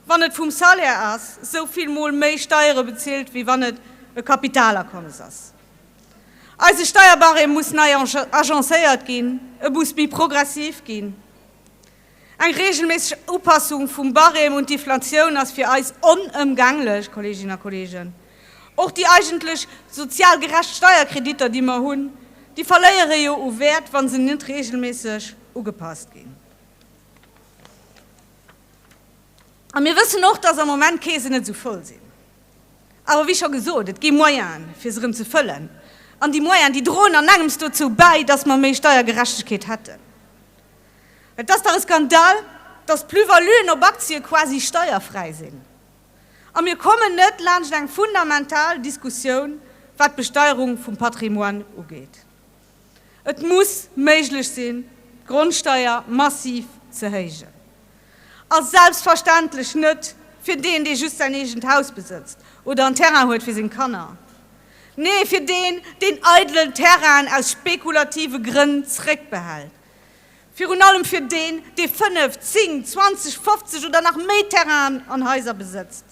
wann et vum Salaire ass, esou vill Mol méi Steiere bezilt, wéi wann et e Kapitalakommes ass. Eise Steierbarème muss nei agencéiert ginn, e muss méi progressiv ginn. Eng reegelméisseg Upassung vum Barème un d'Inflatioun ass fir eis onëmgänglech, Kolleeginnen a Kolleegen. Och déi eigentlech sozial gerecht Steierkreditter, déi mer hunn, déi verléiere jo u Wäert, wa se net reegelméisseg ugepasst ginn. A mir wëssen och, dass am Moment d'Keesen net esou voll sinn. Awer wéi scho gesot, et gi Moyene fir se erëm ze fëllen, an déi Moyene, déi droen an engems dozou bäi, datt mer méi Steiergerechtegkeet hätten. Et ass dach e Skandal, datt d'Plus-valuen op Aktie quasi steierfräi sinn, a mir kommen net laanscht eng fundamental Diskussioun, wat d'Besteierung vum Patrimoine ugeet. Et muss méiglech sinn, d'Grondsteier massiv ze héijen. A selbstverständlech net fir deen, dee just säin eegent Haus besëtzt oder en Terrain huet fir seng Kanner. Nee, fir deen, deen eidelen Terrainen aus spekulative Grënn zréckbehält, Virun allem fir deen, dee fënnef, zing, zwanzeg, fofzeg oder nach méi Terrainen an Haiser besëtzt.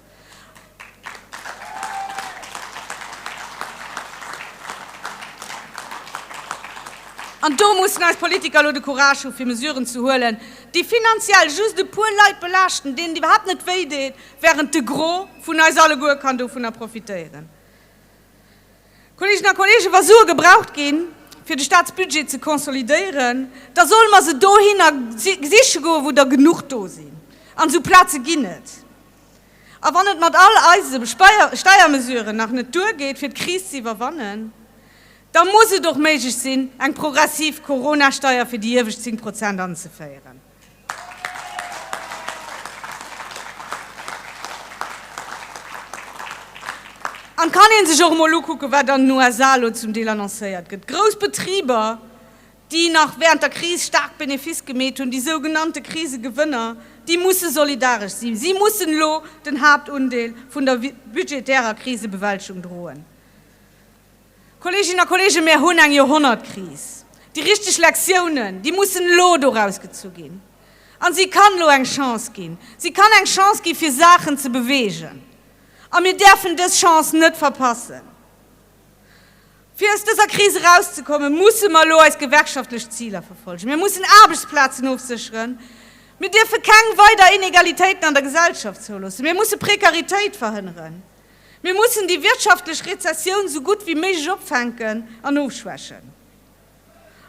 An do mussen eis Politiker elo de Courage hu fir Mesuren ze huelen, déi finanziell just e puer Leit belaaschten, deenen et iwwerhaapt net wéi deet, während de Gros vun eis alleguer kann dovunner profitéieren. Kolleegen a Kolleegen, wa Sue gebraucht ginn, fir de Statsbudget ze konsolidéieren, da solle mer se dohinner siche goen, wou der genuch do sinn. An esou Plaze ginn et. A wann et mat all eise Steiermesuren nach net duergeet, fir d'Kris ze iwwerwannen, da muss et och méiglech sinn, eng progressiv Coronasteier fir déi iewescht 10 Prozent anzeféieren. An et kann ee sech och emol ukucken, wat an den USA elo zum Deel annoncéiert gëtt. Grouss Betriber, déi nach wärend der Kris staark Benefice gemeet hunn, déi sougenannte Krisegewënner, déi musse solidaresch sinn. Si mussen elo den Haaptundeel vun der budgetärer Krisebewältegung droen. Kolleeginnen a Kolleegen, mir hunn eng Joerhonnertkris. Déi richteg Lektiounen, déi mussen elo doraus gezu ginn. A si kann elo eng Chance ginn. Si kann eng Chance gi fir Saachen ze beweegen. A mir däerfen dës Chance net verpassen. Fir aus dëser Kris erauszekommen, musse mer elo eis gewerkschaftlech Ziler verfollegen. Mir mussen Aarbechtsplazen ofsécheren. Mir dierfe keng weider Inegalitéiten an der Gesellschaft zouloossen. Mir musse Prekaritéit verhënneren. Mir mussen déi wirtschaftlech Rezessioun sou gutt wéi méiglech opfänken an ofschwächen.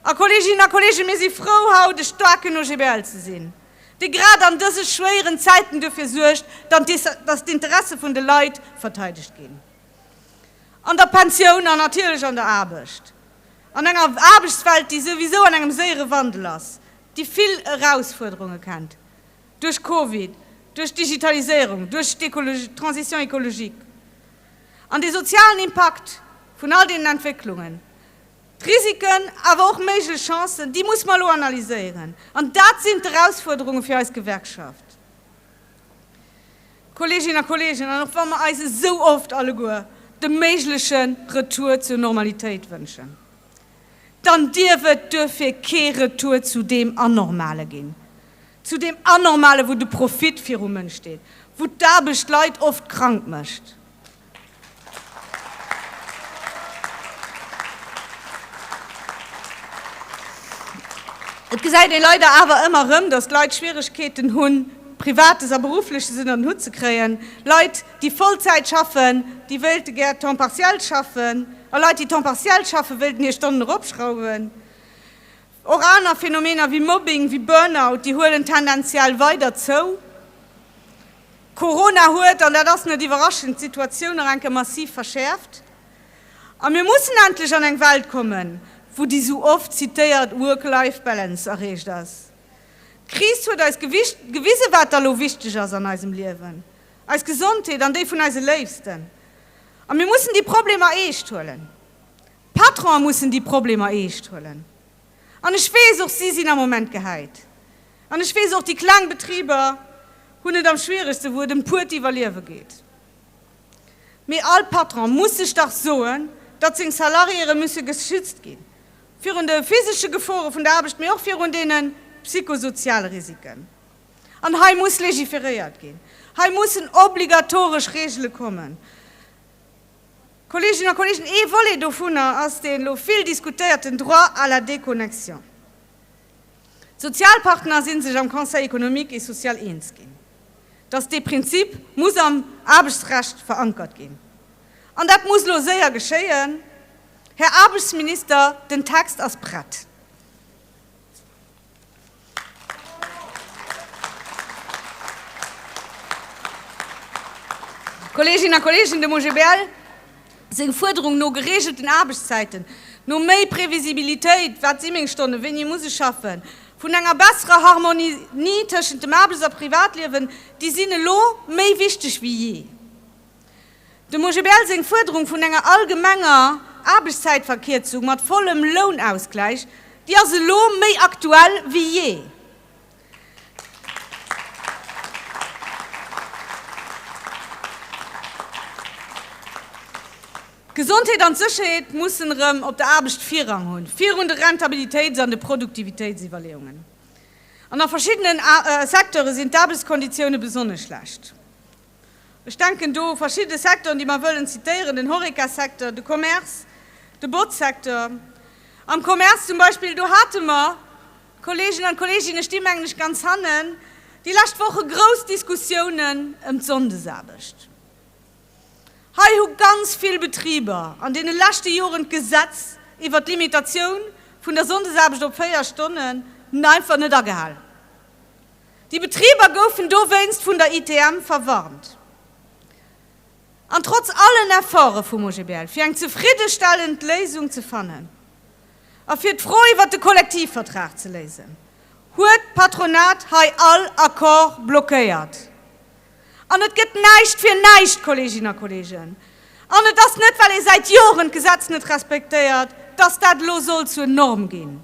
A, Kolleeginnen a Kolleegen, mir si frou, haut e staarken OGBL ze sinn, dee grad an dëse schwéieren Zäiten duerfir suergt, datt d'Interesse vun de Leit verteidegt ginn, an der Pensioun an natierlech an der Aarbecht, an enger Aarbechtswelt, déi souwisou an engem séiere Wandel ass, déi vill Erausfuerderunge kennt. Duerch Covid, duerch d'Digitaliséierung, duerch d'Transition écologique an de sozialen Impakt vun all deenen Entwécklungen, d'Risiken, awer och méiglech Chancen, déi muss mer elo analyséieren. An dat sinn d'Erausfuerderunge fir eis Gewerkschaft, Kolleeginnen a Kolleegen, an och wa mer eis esou oft alleguer de méigleche Retour zur Normalitéit wënschen. dann dierf et duerfir kee Retour zu deem Anormale ginn, zu deem Anormale wou de Profit virum Mënsch steet, wou d'Aarbecht d'Leit oft krank mécht. Et gesäit ee leider awer ëmmer erëm, datt d'Leit Schwieregkeeten hunn, Privates a Beruffleches ënner den Hutt ze kréien, Leit, déi Vollzäit schaffen, déi wéilte gär temps partiel schaffen a Leit, déi temps partiel schaffen, wéilten hir Stonnen eropschrauwen. Och aner Phänomener wéi Mobbing, wéi Burnout, déi huelen tendenziell weider zou. Corona huet, an dat ass net iwwerraschend, d'Situatioun nach enke massiv verschäerft. A mir mussen endlech an eng Welt kommen, wou déi sou oft zitéiert Work-Life-Balance erreecht ass. D'Kris huet eis gewisen, wat da lo wichteg ass an eisem Liewen. eis Gesondheet an déi vun eise Léifsten, a mir mussen déi Problemer eescht huelen. D'Patronen mussen déi Problemer eescht huelen. An ech weess och, si sinn am Moment gehäit. An ech weess och, déi kleng Betriber hunn et am schwieregste, wou et ëm d'puert Iwwerliewe geet. Mee all Patron muss sech dach soen, datt seng Salariéere musse geschützt ginn, virun de physesche Gefore vun der Aarbecht, mee och virun deene psychosoziale Risiken. An hei muss legiferéiert ginn. Hei mussen obligatoresch Reegele kommen. Kolleeginnen a Kolleegen, ee Volet dovunner ass dee lo vill diskutéierten Droit à la déconnexion. D'Sozialpartner si sech am Conseil économique et social eens ginn, dass dee Prinzip muss am Aarbechtsrecht verankert ginn. An dat muss lo séier geschéien, Här Aarbechtsminister, den Text ass prett. Kolleeginnen a Kolleegen, dem OGBL seng Fuerderung no gereegelten Aarbechtszäiten, no méi Previsibilitéit, wat si meng Stonnen, wéini ee muss schaffen, vun enger besserer Harmonie tëschent dem Aarbechts a Privatliewen, déi sinn elo méi wichteg wéi jee. Dem OGBL seng Fuerderung vun enger allgemenger Aarbechtszäitverkierzung mat vollem Lounausgläich, déi ass elo méi aktuell wéi jee. D'Gesondheet an d'Sécherheet mussen erëm op der Aarbecht Virrang hunn, virun de Rentabilitéits an de Produktivitéitsiwwerleeungen. An a verschiddenen Secteure sinn d'Aarbechtskonditioune besonnesch schlecht. Ech denken do u verschidde Secteuren, déi mer wëllen zitéieren, den Horeca-Secteur, de Commerce, de Botz-Secteur. Am Commerce zum Beispill, do hate mer, d'Kollegen an d'Kolleginnen, ech sti mengen ech ganz hannen, déi lescht Woche grouss Diskussiounen ëm d'Sonndesaarbecht. Hei hu ganz vill Betriber an deene leschte Joren d'Gesetz iwwert d'Limitatioun vun der Sonndesaarbecht op véier Stonnen einfach net agehalen. Déi Betriber goufen dowéinst vun der ITM verwarnt. An trotz allen Efforte vum OGBL, fir eng zefriddestellend Léisung ze fannen a fir d'Fro iwwert de Kollektivvertrag ze léisen, huet d'Patronat hei all Accord blockéiert. An et gëtt näischt fir näischt, Kolleeginnen a Kolleegen! An et ass net, well ee säit Joren d'Gesetz net respektéiert, dass dat elo soll zur Norm ginn.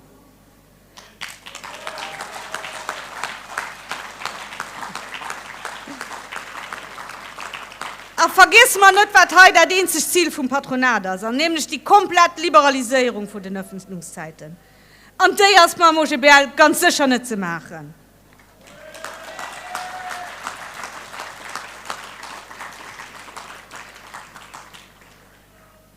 A vergiesse mer net, wat hei dat eenzegt Zil vum Patronat ass, an nämlech déi komplett Liberaliséierung vun den Ëffenlungszäiten. An déi ass mam OGBL ganz sécher net ze maachen.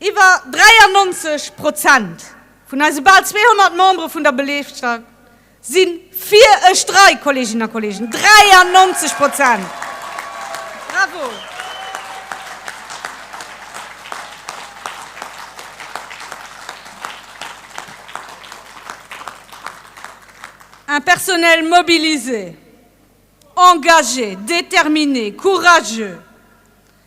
Iwwer 93 Prozent vun eise bal 200 Membere vun der Belegschaft si fir e Streik, Kolleeginnen a Kolleegen, 93 Prozent! Bravo! Un personnel mobilisé, engagé, déterminé, courageux.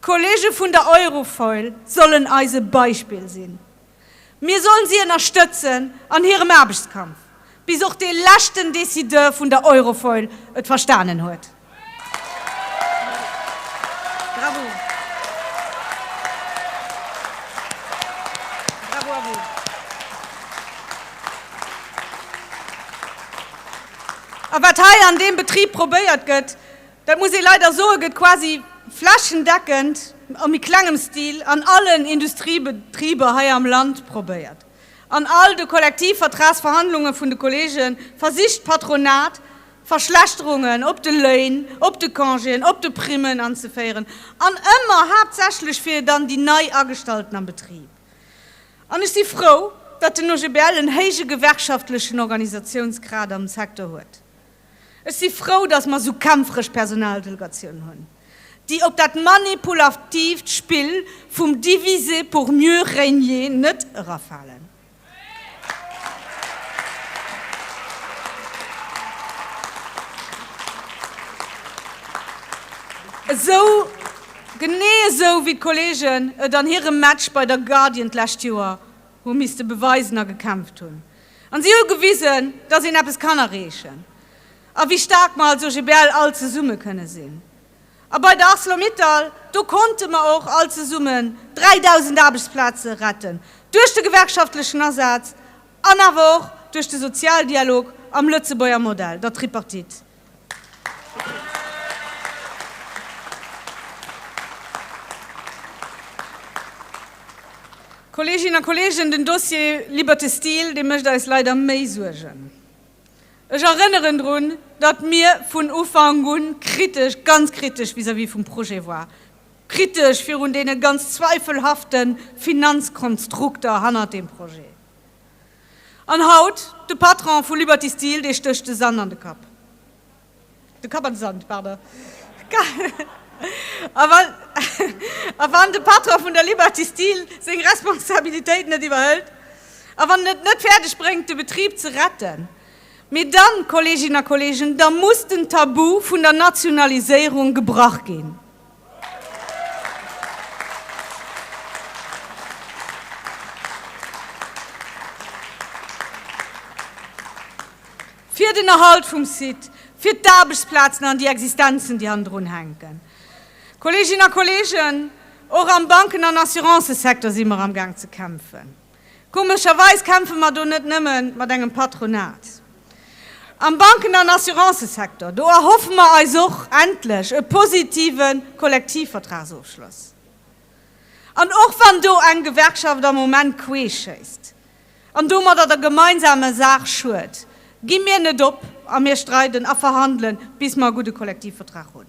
D'Kollege vun der Eurofoil sollen eis e Beispill sinn. Mir sollen si ënnerstëtzen an hirem Aarbechtskampf, bis och dee leschten Decideur vun der Eurofoil et verstanen huet. A wat hei an deem Betrib probéiert gëtt, Dat muss ee leider soen, gëtt quasi flächendeckend a méi klengem Stil an allen Industriebetriber hei am Land probéiert. An all de Kollektivvertragsverhandlunge vun de Kollege versicht d'Patronat, Verschlechterungen op de Léin, op de Congéen, op de Primmen anzeféieren, an ëmmer haaptsächlech fir dann déi nei Agestallten am Betrib. An ech si frou, datt den OGBL en héije gewerkschaftlechen Organisatiounsgrad am Secteur huet. Ech si frou, datt mer esou kämpferesch Personaldelegatioun hunn, déi op dat manipulativt Spill vum diviser pour mieux régner net erafalen. Esou, genee esou wéi d'Kollegen et an hirem Match bei der Guardian d'lescht Joer hu misste beweisen a gekämpft hunn, An si hu gewisen, dass een eppes kann erreechen a wéi staark mer als OGBL all zesumme kënne sinn. A bei der Arcelor-Mittal, do konnte mer och all zesummen 3.000 Aarbechtsplaze retten, duerch de gewerkschaftlechen Asaz an awer och duerch de Sozialdialog am Lëtzebuerger Modell, der Tripartite. Kolleeginnen a Kolleegen, den Dossier Liberté Steel, dee mécht eis leider méi Suergen. Ech erënneren drun, datt mir vun Ufank un kritesch, ganz kritesch vis-à-vis vum Projet war, kritesch virun deene ganz zweifelhafte Finanzkonstrukter hannert deem Projet. An haut de Patron vu Liberty Steel, dee stécht de Sand an de Kapp. De Kapp an de Sand, pardon. A wann, a wann de Patron vun der Liberty Steel seng Responsabilitéit net iwwerhëlt, a wann en et net fäerdeg bréngt, de Betrib ze retten, mee dann, Kolleeginnen a Kolleegen, da muss den Tabu vun der Nationaliséierung gebrach ginn. Fir den Erhalt vum Site, fir d'Aarbechtsplazen an déi Existenzen, déi hannendrun hänken. Kolleeginnen a Kolleegen, och am Banken an Assurancësecteur si mer amgaang ze kämpfen. Komescherweis kämpfe mer do net nëmme mat engem Patronat. Am Banken an Assurancësektor, do erhoffe mer eis och endlech e positive Kollektivvertragsofschloss. An och wann do eng Gewerkschaft am Moment queesch schéisst an domadder der gemeinsamer Saach schued, gi mir net op a mir streiden a verhandelen, bis mer e gudde Kollektivvertrag hunn.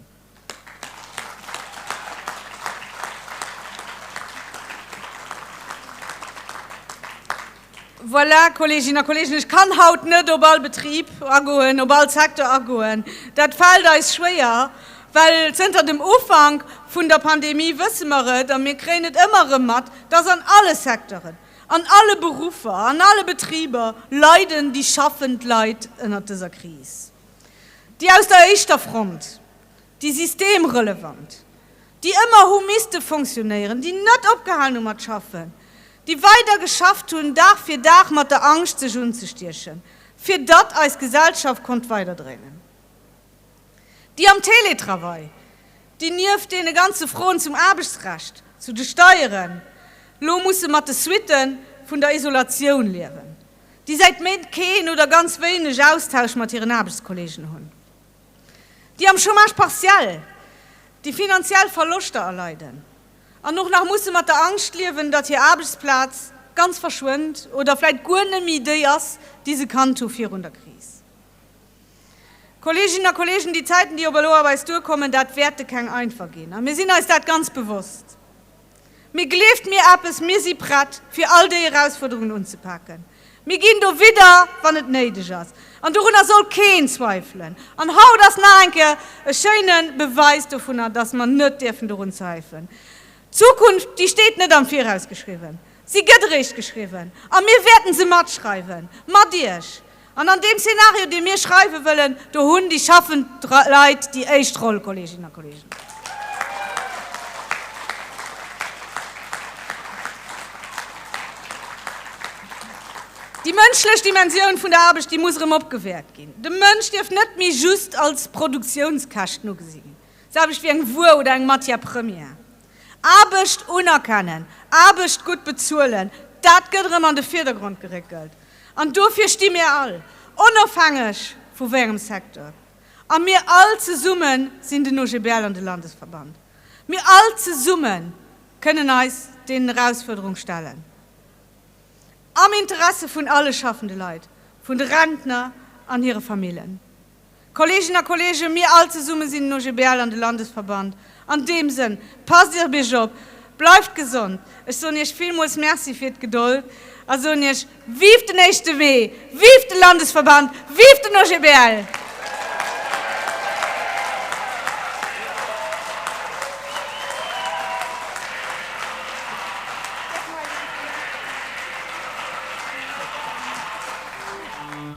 Voilà, Kolleginnen a Kollegen, ech kann haut net op all Betrib agoen, op all Secteur agoen. Dat fält eis schwéier, well zënter dem Ufank vun der Pandemie wësse mer et a mir kréien et ëmmer erëm mat, dass an alle Secteuren, an alle Beruffer, an alle Betriber leiden déi schaffend Leit ënnert dëser Kris. déi aus der éischter Front, déi systemrelevant, déi ëmmer hu misste fonctionnéieren, déi net opgehalen hu mat schaffen, déi weider geschafft hunn, Dag fir Dag, mat der Angscht sech unzestiechen, fir datt eis Gesellschaft konnt weiderdréinen, déi am Télétravail, déi nieft deene ganze Froen zum Aarbechtsrecht, zu de Steieren, lo musse mat de Suitte vun der Isolatioun liewen. déi säit Méint keen oder ganz wéineg Austausch mat hiren Aarbechtskollegen hunn, déi am Chômage partiel, déi finanziell Verloschter erleiden an och nach musse mat der Angscht liewen, datt hir Aarbechtsplaz ganz verschwënnt oder vläit guer nëmmi déi ass, déi se kannt hu virun der Kris. Kolleeginnen a Kolleegen, déi Zäiten, déi op elo op eis duerkommen, dat wäerte keng einfach ginn a mir sinn eis dat ganz bewosst. Mee gleeft mir eppes, mir si prett, fir all déi Erausfuerderungen unzepaken. Mir ginn do widder, wann et néideg ass. An dorunner soll keen zweifelen. An haut ass nach eng Kéier e schéine Beweis dovunner, dass mer net dierfen dorun zweifeln. D'Zukunft, déi steet net am Viraus geschriwwen. Si gëtt eréischt geschriwwen. A mir wäerten se matschreiwen. Mat Iech. An an deem Szenario, dee mir schreiwe wëllen, do hunn déi schaffend Leit déi éischt Roll, Kolleeginnen a Kolleegen. Déi mënschlech Dimensioun vun der Aarbecht, déi muss erëm opgewäert ginn. De Mënsch dierf net méi just als Produktiounskäschten ugesi ginn, d'Aarbecht wéi eng Wuer oder eng Matière première. Aarbecht unerkennen, Aarbecht gutt bezuelen, dat gëtt erëm an de Virdergrond geréckelt. An dofir sti mir all, onofhängeg vu wéiengem Secteur, a mir all zesumme sinn den OGBL an de Landesverband, mir all zesumme kënnen eis deenen Erausfuerderung stellen, am Interesse vun alle schaffende Leit, vun de Rentner an hire Famillen. Kollegen a Kollegen, mir all zesummen sinn den OGBL an de Landesverband. An deem Sënn, passt Iech op Iech op, bleift gesond. Ech soen Iech villmools Merci fir d'Gedold a soen Iech, Vive den éischte Mee! Vive de Landesverband! Vive den OGBL!